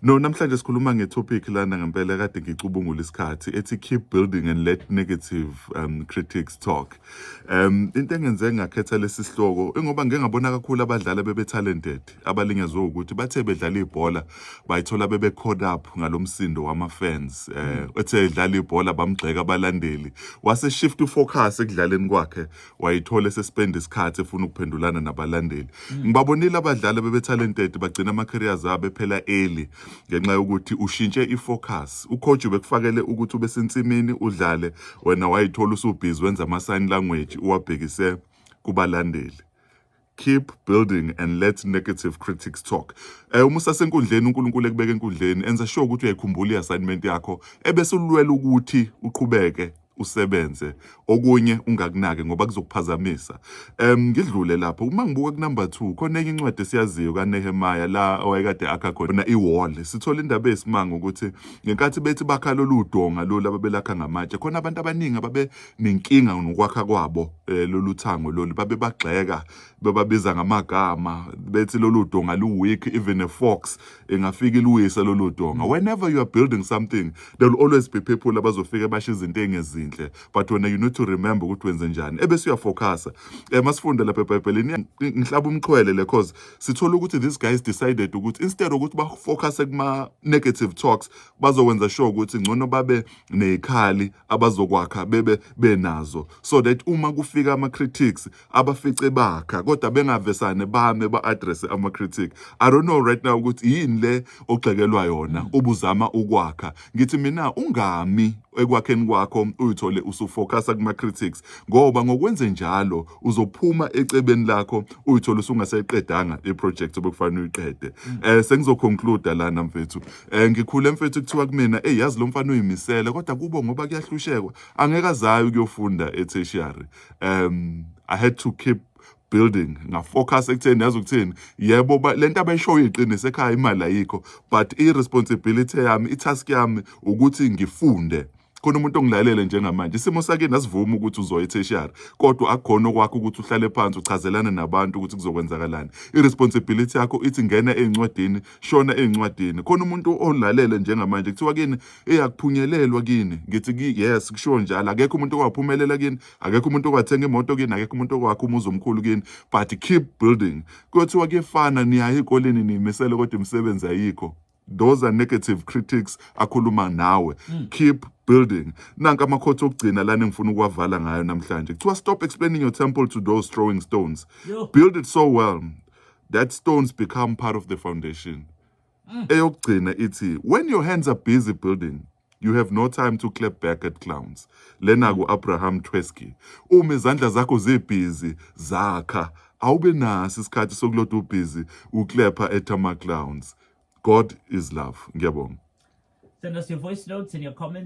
No, namhlanje sikhuluma ngetopic lana ngempela kade ngicubungula isikhathi ethi keep building and let negative um, critics talk. Um into engenze ngakhetha lesi sihloko ingoba ngeke ngabona kakhulu abadlali bebe talented abalinyazwe ukuthi bathe bedlala ibhola bayithola bebe caught up ngalomsindo wama fans. Eh ethe edlala ibhola bamgxeka abalandeli wase shift focus ekudlaleni kwakhe wayithola esespenda isikhathi efuna ukuphendulana nabalandeli mm. ngibabonile abadlali abebetalented bagcina ama-careers abo ephela early ngenxa yokuthi ushintshe i-focus ucoach ubekufakele ukuthi ube sensimini udlale wena wayithola usubhizi wenza ama-sign language uwabhekise kubalandeli keep building and let negative critics talk eh uma usasenkundleni uNkulunkulu ekubeka enkundleni enza sure ukuthi uyayikhumbula iassignment yakho ebese ulwela ukuthi uqhubeke usebenze okunye ungakunaki ngoba kuzokuphazamisa em ngidlule lapho uma ngibuka ku number 2 khona enye incwadi esiyaziyo kaNehemiah la owayekade akha khona iwall sithola indaba esimanga ukuthi ngenkathi bethi bakha lolu donga lolu ababelakha ngamatshe khona abantu abaningi ababe nenkinga nokwakha kwabo eh, lolu thango lolu babebagxeka bebabiza ngamagama bethi lolu donga lu-weak even a fox ingafika iluyise lolu donga mm. whenever you are building something there will always be people abazofike basho izinto engezinhle but wena you need to remember ukuthi wenze njani ebese uyafocusa um masifunde lapha ebhayibhelini ngihlaba umxhwele le cause sithola ukuthi these guys decided ukuthi instead ukuthi bafocuse kuma-negative talks bazowenza sure ukuthi ngcono babe neyikhali abazokwakha bebe benazo so that uma kufika ama critics abafice bakha kodwa bengavesane bame ba address ama critic i don't know right now ukuthi yini le ogxekelwa yona ubuzama ukwakha ngithi mina ungami ekwakheni kwakho uyithole usufocasa kuma critics ngoba ngokwenze njalo uzophuma ecebeni lakho uyithole usungaseqedanga i project obekufanele uyiqede eh sengizoconclude lana mfethu Eh ngikhule mfethu kuthiwa kumina hey yazi lo mfana uyimisele kodwa kubo ngoba kuyahlushekwa angeke azayo kuyofunda etertiary. Um I had to keep building ngafocus ekutheni yazi ukuthini yebo ba- lento abayishoyo iqinise ekhaya imali ayikho but i responsibility yami i task yami ukuthi ngifunde khona umuntu ongilalele njengamanje isimo sakini asivumi ukuthi uzoya etheshiyari kodwa akukhona okwakho ukuthi uhlale phansi uchazelane nabantu ukuthi kuzokwenzakalani i-responsibility yakho ithi ngena ey'ncwadini shona ey'ncwadini khona umuntu olalele njengamanje kuthiwa kini eyakuphunyelelwa kini ngithi yes kushiwo njalo akekho umuntu owaphumelela kini akekho umuntu owathenga imoto kini akekho umuntu owakha umuzi omkhulu kini but keep building kuyothiwa kuyefana niyaye ey'koleni niyimisele kodwa imisebenzi ayikho those are negative critics akhuluma nawe mm. keep building nanka amakhothi okugcina lana engifuna ukuwavala ngayo namhlanje kuthiwa stop explaining your temple to those throwing stones Yo. build it so well that stones become part of the foundation mm. eyokugcina ithi when your hands are busy building You have no time to clap back at clowns. Lena ku Abraham Twesky. Uma izandla zakho zibhizi zakha, awube nasi isikhathi sokuloda ubhizi uklepha at ama clowns. God is love. Ngiyabonga. Send us your voice notes and your comments.